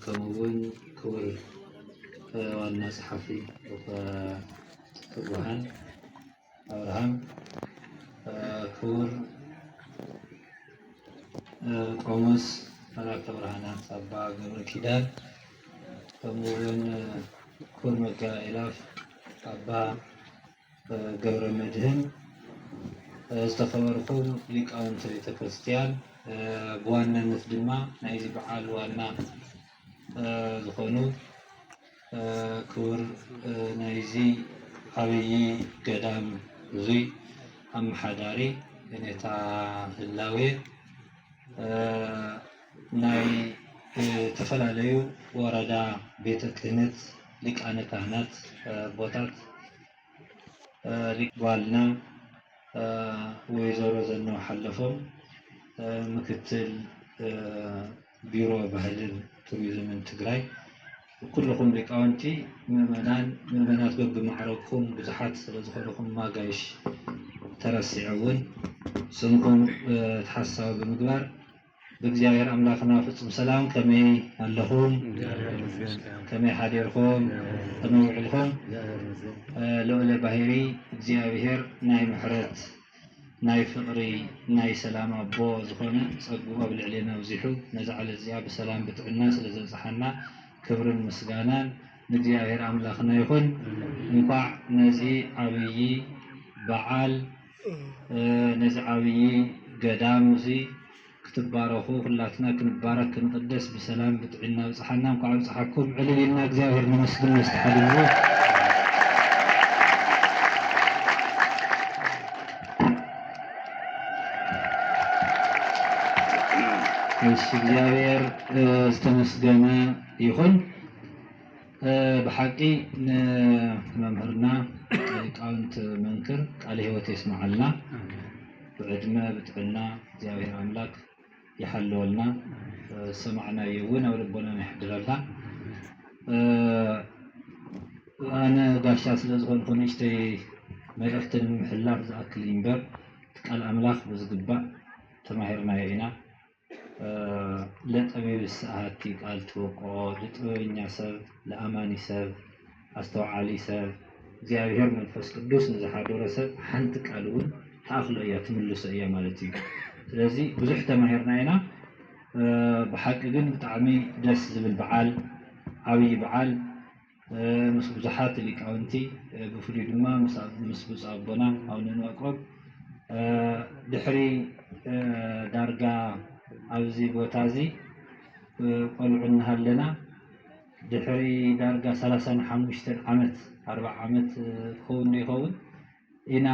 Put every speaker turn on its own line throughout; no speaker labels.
ከምኡ ውን ክቡር ዋና ጸሓፊ ትጉሃን ኣብርሃም፣ ክቡር ቆሞስ መላከ ብርሃናት ኣባ ገብረ ኪዳን፣ ከምኡ ውን ክቡር መጋቢ ኣእላፍ ኣባ ገብረመድህን፣ ዝተኸበርኩም ሊቃውንቲ ቤተ ክርስቲያን፣ ብዋናነት ድማ ናይዚ በዓል ዋና ዝኾኑ ክቡር ናይዚ ዓብዪ ገዳም እዙይ ኣመሓዳሪ ኔታ ህላዌ ናይ እተፈላለዩ ወረዳ ቤተ ክህነት ሊቃነ ካህናት ኣቦታት ጓልና ወይዘሮ ዘነው ሓለፎም ምክትል ቢሮ ባህልን ቱሪዝምን ትግራይ ኩልኹም ሊቃውንቲ ምእመናን ምእመናት በብማዕረግኩም ብዙሓት ስለዝኾንኹም ማጋይሽ ተረሲዑ እውን ስምኩም ተሓሳዊ ብምግባር ብእግዚኣብሔር ኣምላክና ፍጹም ሰላም ከመይ ኣለኹም ከመይ ሓዲርኩም ከመይ ውዒልኩም ልዑለ ባሂሪ እግዚኣብሔር ናይ ምሕረት ናይ ፍቅሪ ናይ ሰላም ኣቦ ዝኾነ ጸግኡ ኣብ ልዕሌና ኣብዚሑ ነዛ ዕለት እዚኣ ብሰላም ብጥዕና ስለ ዘብጽሓና ክብርን ምስጋናን ንእግዚኣብሔር ኣምላክና ይኹን እንኳዕ ነዚ ዓብዪ በዓል ነዚ ዓብዪ ገዳም እዚ ክትባረኹ ኩላትና ክንባረክ ክንቕደስ ብሰላም ብጥዒና ኣብጽሓና እንኳዕ ኣብጽሓኩም ዕልል ኢልና እግዚኣብሔር ነመስግን ነዚ ሓድግ እዚ እሺ እግዚኣብሔር ዝተመስገነ ይኹን። ብሓቂ ንመምህርና ሊቃውንት መንክር ቃለ ህይወት የስመዓልና ብዕድመ ብጥዕና እግዚኣብሔር ኣምላክ ይሓልወልና ዝሰማዕናዮ እውን ኣብ ልቦናና የሕድረልና ኣነ ጋሻ ስለ ዝኾንኩ ንእሽተይ መልእኽቲ ንምምሕላፍ ዝኣክል እምበር ቃል ኣምላኽ ብዝግባእ ተማሂርናዮ ኢና ለጠቢብስ ኣሐቲ ቃል ትበቅዖ ልጥበበኛ ሰብ ለኣማኒ ሰብ ኣስተውዓሊ ሰብ እግዚኣብሔር መንፈስ ቅዱስ ንዝሓደሮ ሰብ ሓንቲ ቃል እውን ትኣኽሎ እያ ትምልሶ እያ ማለት እዩ ስለዚ ብዙሕ ተማሂርና ኢና ብሓቂ ግን ብጣዕሚ ደስ ዝብል በዓል ዓብይ በዓል ምስ ብዙሓት ሊቃውንቲ ብፍሉይ ድማ ምስ ብፁዕ ኣቦና ኣቡነ እንባቆም ድሕሪ ዳርጋ ኣብዚ ቦታ እዚ ቆልዑ እናሃለና ድሕሪ ዳርጋ ሰላሳን ሓሙሽተን ዓመት ኣርብዓ ዓመት ክኸውን ዶ ይኸውን ኢና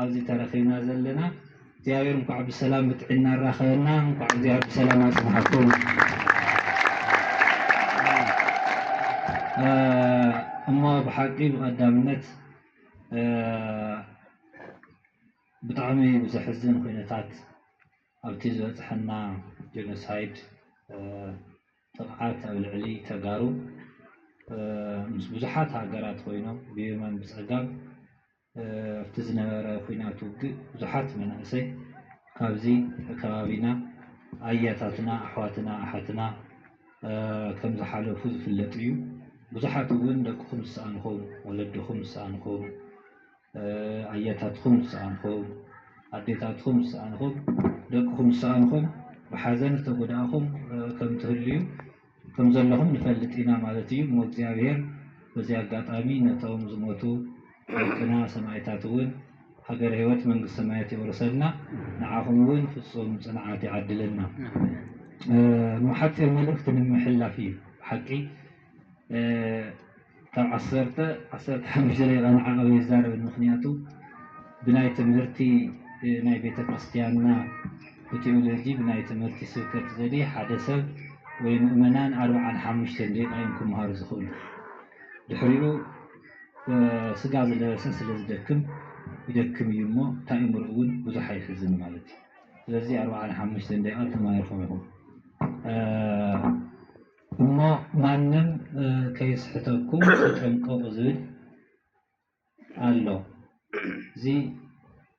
ኣብዚ ተረኺብና ዘለና እግዚኣብሔር እንኳዕ ብሰላም ብጥዒና ኣራኸበና እንኳዕ እግዚኣብሔር ብሰላም ኣፅንሓኩም እሞ ብሓቂ ብቀዳምነት ብጣዕሚ ብዘሕዝን ኩነታት ኣብቲ ዝበፅሐና ጀኖሳይድ ጥፍዓት ኣብ ልዕሊ ተጋሩ ምስ ብዙሓት ሃገራት ኮይኖም ብየማን ብፀጋም ኣብቲ ዝነበረ ኩናት ውግእ ብዙሓት መናእሰይ ካብዚ ከባቢና ኣያታትና ኣሕዋትና ኣሓትና ከምዝሓለፉ ዝፍለጥ እዩ። ብዙሓት እውን ደቅኹም ዝሰኣንኹም ወለድኹም ዝሰኣንኹም ኣያታትኹም ዝሰኣንኹም፣ ኣዴታትኹም ዝሰኣንኹም፣ ደቅኹም ዝሰኣንኹም፣ ብሓዘን ዝተጎዳእኹም ከም ትህልዩ ከም ዘለኹም ንፈልጥ ኢና ማለት እዩ። እሞ እግዚኣብሔር በዚ ኣጋጣሚ ነቶም ዝሞቱ ኣሕዋትና ሰማኢታት እውን ሃገረ ሕይወት መንግስተ ሰማያት የውርሰልና፣ ንዓኹም እውን ፍጹም ጽንዓት ይዓድለና። እሞ ሓጺር መልእኽቲ ንምሕላፍ እዩ። ብሓቂ ካብ ዓሰርተ ዓሰርተ ሓሙሽተ ደቂቃ ንዓቐብ ኣይዛረብን ምኽንያቱ ብናይ ትምህርቲ ናይ ቤተ ክርስቲያንና ብቴዎሎጂ ብናይ ትምህርቲ ስብከት ዘዲ ሓደ ሰብ ወይ ምእመናን ኣርብዓን ሓሙሽተን ደቂቃ እዮም ክምሃሩ ዝኽእሉ ድሕሪኡ ስጋ ዝለበሰ ስለ ዝደክም ይደክም እዩ እሞ ታእምሩ እውን ብዙሕ ኣይሕዝን ማለት እዩ ስለዚ ኣርብዓን ሓሙሽተን ደቂቃ ተማሂርኩም ኢኹም እሞ ማንም ከየስሕተኩም ተጠንቀቑ ዝብል ኣሎ። እዚ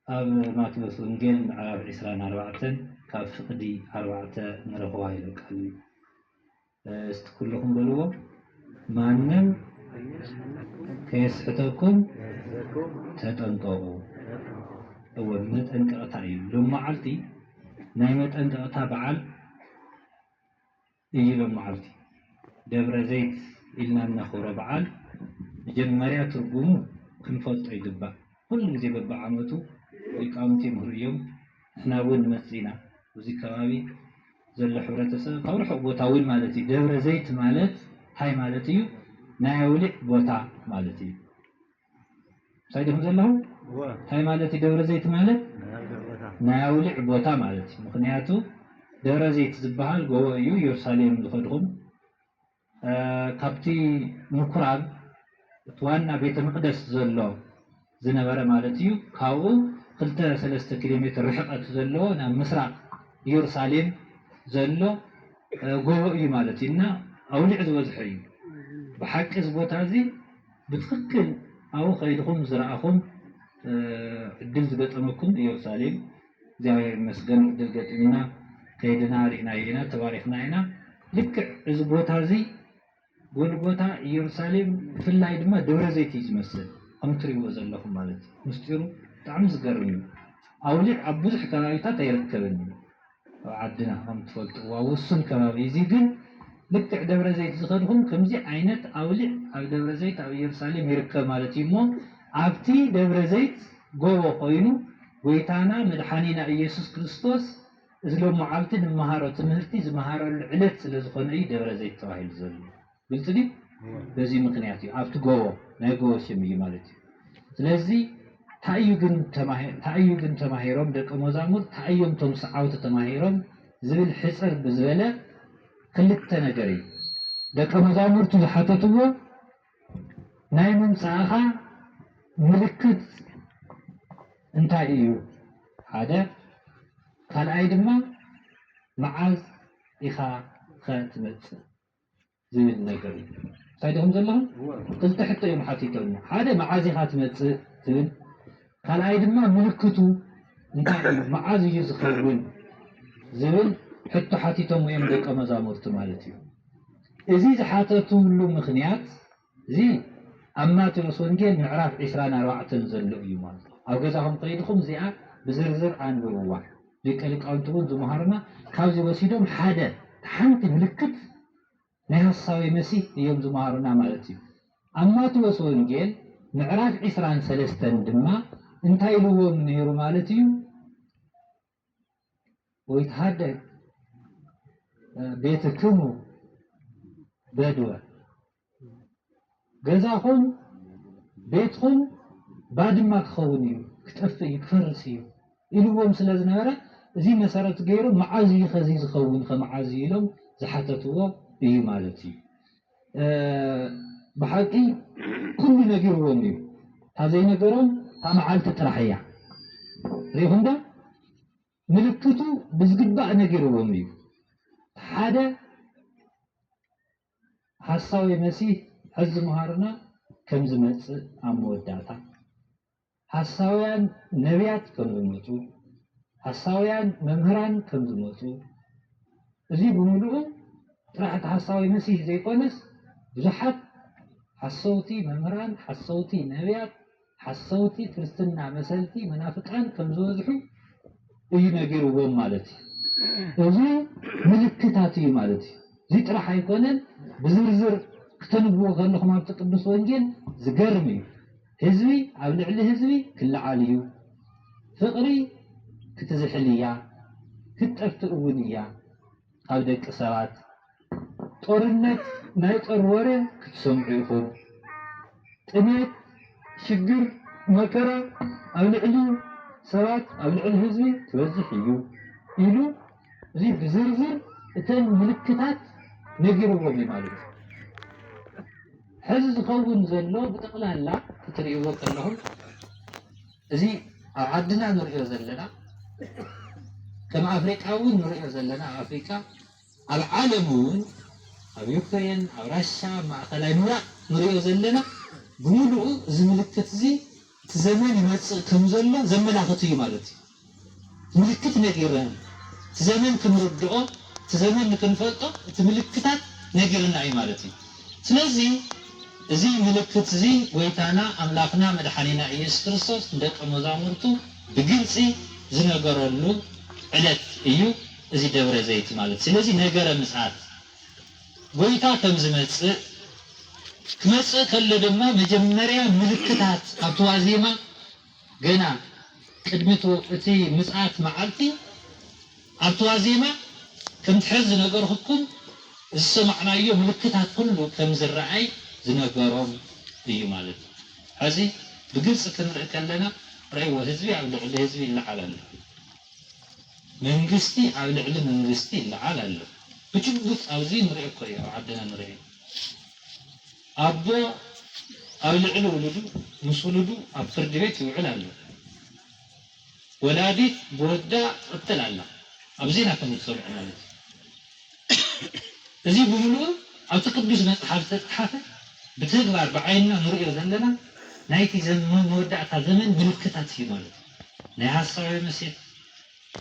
ኣብ ማቴዎስ ወንጌል ምዕራፍ ዕስራን ኣርባዕተን ካብ ፍቕዲ ኣርባዕተ ንረኽባ ኢሉ ቃል እዩ። እስቲ ኩልኹም በልዎ ማንም ከየስሕተኩም ተጠንቀቑ። እወ መጠንቀቕታ እዩ። ሎም መዓልቲ ናይ መጠንቀቕታ በዓል እዩ ሎማዕልቲ ደብረዘይት ኢልና እነኽብሮ በዓል መጀመርያ ትርጉሙ ክንፈልጦ ይግባእ ኩሉ ግዜ በቢዓመቱ ሊቃውንቲ ይምህሩ እዮም ንሕና እውን ንመፅእ ኢና ኣብዚ ከባቢ ዘሎ ሕብረተሰብ ካብ ርሑቕ ቦታ እውን ማለት እዩ ደብረዘይት ማለት እንታይ ማለት እዩ ናይ ኣውሊዕ ቦታ ማለት እዩ እንታይ ዲኹም ዘለኹም እንታይ ማለት እዩ ደብረ ዘይት ማለት ናይ ኣውሊዕ ቦታ ማለት እዩ ምክንያቱ ደብረ ዘይት ዝበሃል ጎቦ እዩ ኢየሩሳሌም ዝኸድኹም ካብቲ ምኩራብ እቲ ዋና ቤተ መቅደስ ዘሎ ዝነበረ ማለት እዩ ካብኡ ክልተ ሰለስተ ኪሎ ሜትር ርሕቀት ዘለዎ ናብ ምስራቅ ኢየሩሳሌም ዘሎ ጎቦ እዩ ማለት እዩ እና ኣውሊዕ ዝበዝሖ እዩ ብሓቂ እዚ ቦታ እዚ ብትኽክል ኣብኡ ከይድኹም ዝረኣኹም ዕድል ዝገጠመኩም እየሩሳሌም እግዚኣብሔር ይመስገን ዕድል ገጢሙና ከይድና ሪእናዮ ኢና ተባሪኽና ኢና ልክዕ እዚ ቦታ እዚ ጎልጎታ እየሩሳሌም ብፍላይ ድማ ደብረ ዘይት እዩ ዝመስል ከምትሪእዎ ዘለኹም ማለት ምስጢሩ ብጣዕሚ ዝገርም እዩ ኣውሊዕ ኣብ ብዙሕ ከባቢታት ኣይርከብን እዩ ኣብ ዓድና ከም ትፈልጥዎ ኣብ ውሱን ከባቢ እዚ ግን ልክዕ ደብረ ዘይት ዝኸድኹም ከምዚ ዓይነት ኣውሊዕ ኣብ ደብረ ዘይት ኣብ እየሩሳሌም ይርከብ ማለት እዩ እሞ ኣብቲ ደብረ ዘይት ጎቦ ኮይኑ ጎይታና መድሓኒና ኢየሱስ ክርስቶስ እዚ ሎምዓልቲ ንመሃሮ ትምህርቲ ዝመሃረሉ ዕለት ስለ ዝኾነ እዩ ደብረ ዘይት ተባሂሉ ዘሎ። ግልፂ ድዩ? በዚ ምኽንያት እዩ ኣብቲ ጎቦ ናይ ጎቦ ስም እዩ ማለት እዩ። ስለዚ ታይ እዩ ግን ታይ እዩ ግን ተማሂሮም ደቀ መዛሙርት ታይ እዮም እቶም ሰዓውቲ ተማሂሮም ዝብል ሕፅር ብዝበለ ክልተ ነገር እዩ። ደቀ መዛሙርቱ ዝሓተትዎ ናይ ምምፃእኻ ምልክት እንታይ እዩ ሓደ ካልኣይ ድማ መዓዝ ኢኻ ኸ ትመፅእ? ዝብል ነገር እዩ እንታይ ድኹም ዘለኹም ክልተ ሕቶ እዮም ሓቲቶምና ሓደ መዓዝ ኢኻ ትመፅእ ትብል ካልኣይ ድማ ምልክቱ እንታይ እዩ መዓዝ እዩ ዝኸውን ዝብል ሕቶ ሓቲቶም እዮም ደቀ መዛሙርቲ ማለት እዩ እዚ ዝሓተትሉ ምክንያት እዚ ኣብ ማቴዎስ ወንጌል ምዕራፍ ዕስራን ኣርባዕተን ዘሎ እዩ ማለት እዩ። ኣብ ገዛኹም ከይድኹም እዚኣ ብዝርዝር ኣንብብዋ። ሊቀ ሊቃውንቲ እውን ዝመሃሩና ካብዚ ወሲዶም ሓደ ሓንቲ ምልክት ናይ ሐሳዊ መሲህ እዮም ዝመሃሩና ማለት እዩ። ኣብ ማቴዎስ ወንጌል ምዕራፍ ዕስራን ሰለስተን ድማ እንታይ ኢልዎም ነይሩ ማለት እዩ? ወይትሃደግ ቤትክሙ በድወ ገዛኹም ቤትኹም ባድማ ክኸውን እዩ ክጠፍእ እዩ ክፈርስ እዩ ኢልዎም ስለ ዝነበረ እዚ መሰረት ገይሩ መዓዝ እዩ ከዚ ዝኸውን ከመዓዝ ኢሎም ዝሓተትዎ እዩ ማለት እዩ ብሓቂ ኩሉ ነጊርዎም እዩ ታዘይነገሮም ታመዓልቲ ጥራሕ እያ ሪኢኹም ዶ ምልክቱ ብዝግባእ ነጊርዎም እዩ ሓደ ሓሳዊ መሲህ ሐዚ ምሃርና ከምዝመፅእ ኣብ መወዳእታ ሓሳውያን ነብያት ከም ዝመጹ፣ ሓሳውያን መምህራን ከም ዝመጹ፣ እዚ ብምሉኡ ጥራሕ እቲ ሓሳዊ መሲህ ዘይኮነስ ብዙሓት ሓሰውቲ መምህራን፣ ሓሰውቲ ነብያት፣ ሓሰውቲ ክርስትና መሰልቲ፣ መናፍቃን፣ ከም ዝበዝሑ እዩ ነጊርዎም ማለት እዩ። እዚ ምልክታት እዩ ማለት እዩ። እዚ ጥራሕ ኣይኮነን ብዝርዝር ክተንብዎ ከለኹም ኣብቲ ቅዱስ ወንጌል ዝገርም እዩ። ህዝቢ ኣብ ልዕሊ ህዝቢ ክለዓል እዩ ፍቅሪ ክትዝሕል እያ ክትጠፍእ እውን እያ ኣብ ደቂ ሰባት ጦርነት ናይ ጦር ወረ ክትሰምዑ ኢኹም ጥሜት ሽግር መከራ ኣብ ልዕሊ ሰባት ኣብ ልዕሊ ህዝቢ ክበዝሕ እዩ ኢሉ እዚ ብዝርዝር እተን ምልክታት ነጊርዎም እዩ ማለት እዩ። ሕዚ ዝኸውን ዘሎ ብጠቕላላ ክትርእይዎ ከለኹም እዚ ኣብ ዓድና ንርእዮ ዘለና ከም ኣፍሪቃ እውን ንርእዮ ዘለና ኣብ ኣፍሪቃ ኣብ ዓለም እውን ኣብ ዩክሬን ኣብ ራሻ ማእኸላይ ምብራቕ ንርእዮ ዘለና ብምሉኡ እዚ ምልክት እዚ እቲ ዘመን ይመጽእ ከም ዘሎ ዘመላኽት እዩ ማለት እዩ። ምልክት ነጊርህም እቲ ዘመን ክንርድኦ እቲ ዘመን ንክንፈልጦ እቲ ምልክታት ነጊርና እዩ ማለት እዩ። ስለዚ እዚ ምልክት እዚ ጎይታና ኣምላኽና መድሓኒና ኢየሱስ ክርስቶስ ንደቀ መዛሙርቱ ብግልጺ ዝነገረሉ ዕለት እዩ እዚ ደብረ ዘይት ማለት ስለዚ ነገረ ምጽኣት ጐይታ ከም ዝመጽእ፣ ክመጽእ ከሎ ድማ መጀመርያ ምልክታት ኣብቲ ዋዜማ ገና ቅድሚ እቲ ምጽኣት መዓልቲ ኣብቲ ዋዜማ ከምቲ ሕዚ ዝነገርኹኩም ዝሰማዕናዮ ምልክታት ኩሉ ከም ዝረኣይ ዝነገሮም እዩ ማለት እዩ። ሕዚ ብግልጺ ክንርኢ ከለና ርእይዎ ህዝቢ ኣብ ልዕሊ ህዝቢ ይለዓል ኣሎ። መንግስቲ ኣብ ልዕሊ መንግስቲ ይለዓል ኣሎ ብጭቡጥ ኣብዚ ንሪኦ እኮ እዩ ኣብ ዓድና ንሪኦ ኣቦ ኣብ ልዕሊ ውሉዱ ምስ ውሉዱ ኣብ ፍርዲ ቤት ይውዕል ኣሎ ወላዲት ብወዳ ትቕተል ኣላ ኣብዚ ኢና ከም ዝሰምዑ ማለት እዩ እዚ ብምልኡ ኣብቲ ቅዱስ መጽሓፍ ዝተጽሓፈ ብተግባር ብዓይንና ንሪኦ ዘለና ናይቲ መወዳእታ ዘመን ምልክታት እዩ ማለት እዩ። ናይ ሐሳዊ ምሴት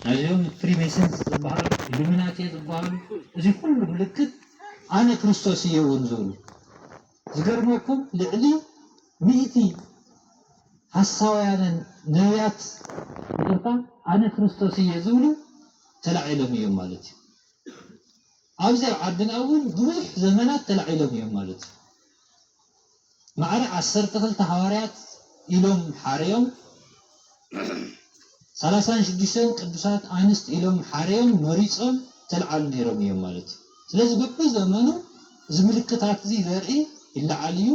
ናይዚኦም ፍሪሜሰንስ ዝበሃሉ ኢሉሚናቴ ዝበሃሉ እዚ ኩሉ ምልክት ኣነ ክርስቶስ እየ እውን ዝብሉ ዝገርመኩም ልዕሊ ሚእቲ ሐሳውያንን ነብያት ይቅርታ ኣነ ክርስቶስ እየ ዝብሉ ተላዒሎም እዮም ማለት እዩ። ኣብዚ ኣብ ዓድና እውን ንብዙሕ ዘመናት ተላዒሎም እዮም ማለት እዩ። ማዕረ ዓሰርተ ክልተ ሓዋርያት ኢሎም ሓረዮም፣ ሰላሳን ሽዱሽተን ቅዱሳት ኣንስት ኢሎም ሓረዮም መሪጾም ተልዓሉ ነይሮም እዮም ማለት እዩ። ስለዚ በብዘመኑ እዚ ምልክታት እዚ ዘርኢ ይለዓል እዩ።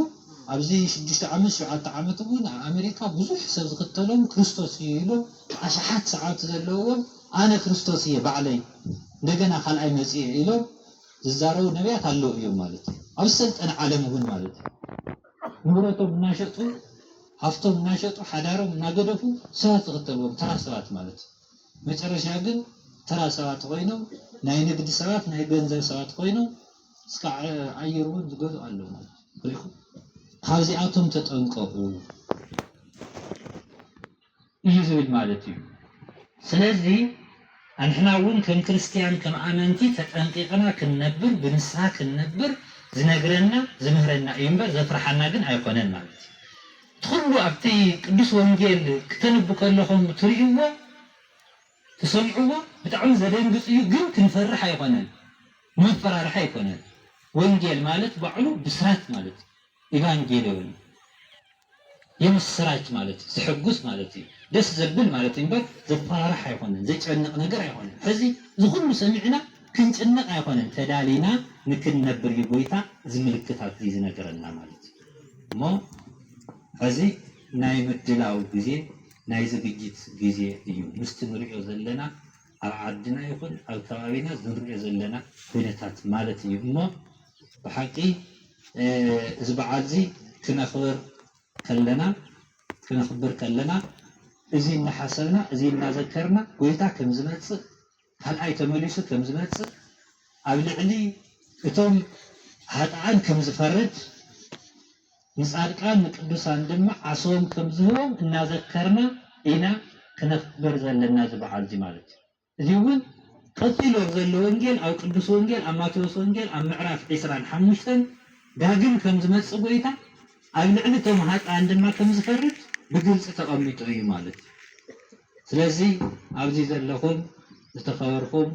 ኣብዚ ሽዱሽተ ዓመት ሸውዓተ ዓመት እውን ኣብ ኣሜሪካ ብዙሕ ሰብ ዝኽተሎም ክርስቶስ እዩ ኢሎም ኣሽሓት ሰዓብቲ ዘለውዎም ኣነ ክርስቶስ እየ ባዕለይ እንደገና ካልኣይ መጺኤ ኢሎም ዝዛረቡ ነብያት ኣለዉ እዮም ማለት እዩ። ኣብ ሰልጠነ ዓለም እውን ማለት እዩ ንብረቶም እናሸጡ ሃፍቶም እናሸጡ ሓዳሮም እናገደፉ ሰባት ዝኽተልዎም ተራ ሰባት ማለት እዩ። መጨረሻ ግን ተራ ሰባት ኮይኖም ናይ ንግዲ ሰባት ናይ ገንዘብ ሰባት ኮይኖም እስካዕ ኣየር እውን ዝገዝኡ ኣለዉ ማለት እዩ። ሪኢኹም ካብዚኣቶም ተጠንቀቑ። እዩ ዝብል ማለት እዩ። ስለዚ ኣንሕና እውን ከም ክርስትያን ከም ኣመንቲ ተጠንቂቕና ክንነብር ብንስሃ ክንነብር ዝነግረና ዝምህረና እዩ እምበር ዘፍርሓና ግን ኣይኾነን ማለት እዩ። እቲ ኹሉ ኣብቲ ቅዱስ ወንጌል ክተንቡ ከለኹም ትርእይዎ ትሰምዕዎ ብጣዕሚ ዘደንግፅ እዩ ግን ክንፈርሕ ኣይኾነን መፈራርሒ ኣይኮነን ወንጌል ማለት ባዕሉ ብስራት ማለት እዩ ኢቫንጌልዮን የምስራች ማለት ዘሐጉስ ማለት እዩ ደስ ዘብል ማለት እዩ እምበር ዘፋርሕ ኣይኮነን ዘጨንቅ ነገር ኣይኮነን ሕዚ እዚ ኩሉ ሰሚዕና ክንጭነቅ ኣይኮነን ተዳሊና ንክንነብር እዩ ጎይታ እዚ ምልክታት እዚ ዝነገረና ማለት እዩ እሞ ሕዚ ናይ ምድላው ግዜ ናይ ዝግጅት ግዜ እዩ ምስቲ ንሪኦ ዘለና ኣብ ዓድና ይኹን ኣብ ከባቢና ዝንሪኦ ዘለና ኩነታት ማለት እዩ እሞ ብሓቂ እዚ በዓል እዚ ክነኽብር ከለና ክነኽብር ከለና እዚ እናሓሰብና እዚ እናዘከርና ጎይታ ከም ዝመጽእ ካልኣይ ተመሊሱ ከም ዝመጽእ ኣብ ልዕሊ እቶም ሃጥኣን ከም ዝፈርድ ንጻድቃን ንቅዱሳን ድማ ዓስቦም ከም ዝህቦም እናዘከርና ኢና ክነኽብር ዘለና እዚ በዓል እዚ ማለት እዩ። እዚ እውን ቀጺሉ ኣብ ዘሎ ወንጌል ኣብ ቅዱስ ወንጌል ኣብ ማቴዎስ ወንጌል ኣብ ምዕራፍ ዕስራን ሓሙሽተን ዳግም ከም ዝመጽእ ጎይታ ኣብ ልዕሊ እቶም ሃጣን ድማ ከም ዝፈርድ ብግልጺ ተቐሚጡ እዩ ማለት እዩ። ስለዚ ኣብዚ ዘለኹም ዝተኸበርኩም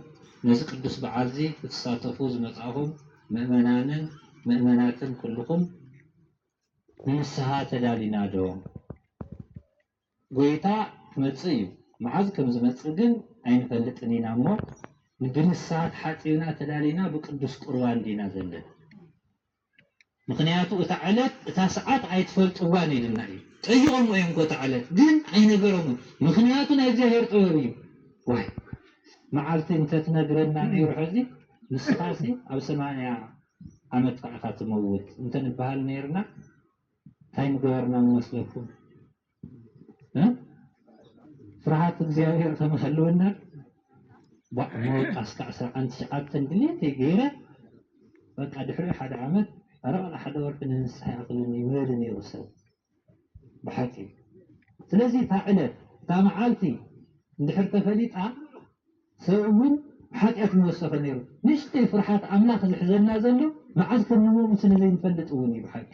ነዚ ቅዱስ በዓል እዚ ክትሳተፉ ዝመጻእኹም ምእመናንን ምእመናትን ኩልኹም ንንስሃ ተዳሊና ዶ? ጐይታ ክመጽእ እዩ፣ መዓዝ ከም ዝመጽእ ግን ኣይንፈልጥን ኢና እሞ፣ ንግንሳ ተሓጺብና ተዳሊና ብቅዱስ ቍርባን ዲና ዘለና? ምኽንያቱ እታ ዕለት እታ ሰዓት ኣይትፈልጥዋን ኢሉና እዩ። ጠይቖምዎ እዮም እኮ እታ ዕለት፣ ግን ኣይነገሮምን። ምኽንያቱ ናይ እግዚኣብሔር ጥበብ እዩ። ዋይ መዓልቲ እንተትነግረና ነይሩ ሕዚ ንስኻሲ ኣብ ሰማንያ ዓመትካ ኢኻ ትመውት እንተንበሃል ነይርና እንታይ ምገበርና መስለኩም ፍርሃት እግዚኣብሔር ከመሃለወና መወቃ እስከ ዓስራ ዓንድ ሸዓብተን ድሌተይ ገይረ በቃ ድሕሪኡ ሓደ ዓመት ኣረቕላ ሓደ ወርሒ ንንስሓ ይኣኽለኒ ይበል ነይሩ ሰብ ብሓቂ ስለዚ እታ ዕለት እታ መዓልቲ እንድሕር ተፈሊጣ ሰብ እውን ሓጢኣት ምወሰኸ ነይሩ ንእሽተይ ፍርሓት ኣምላኽ ዝሕዘና ዘሎ መዓዝ ከም ንመሙት ንዘይንፈልጥ እውን እዩ ብሓቂ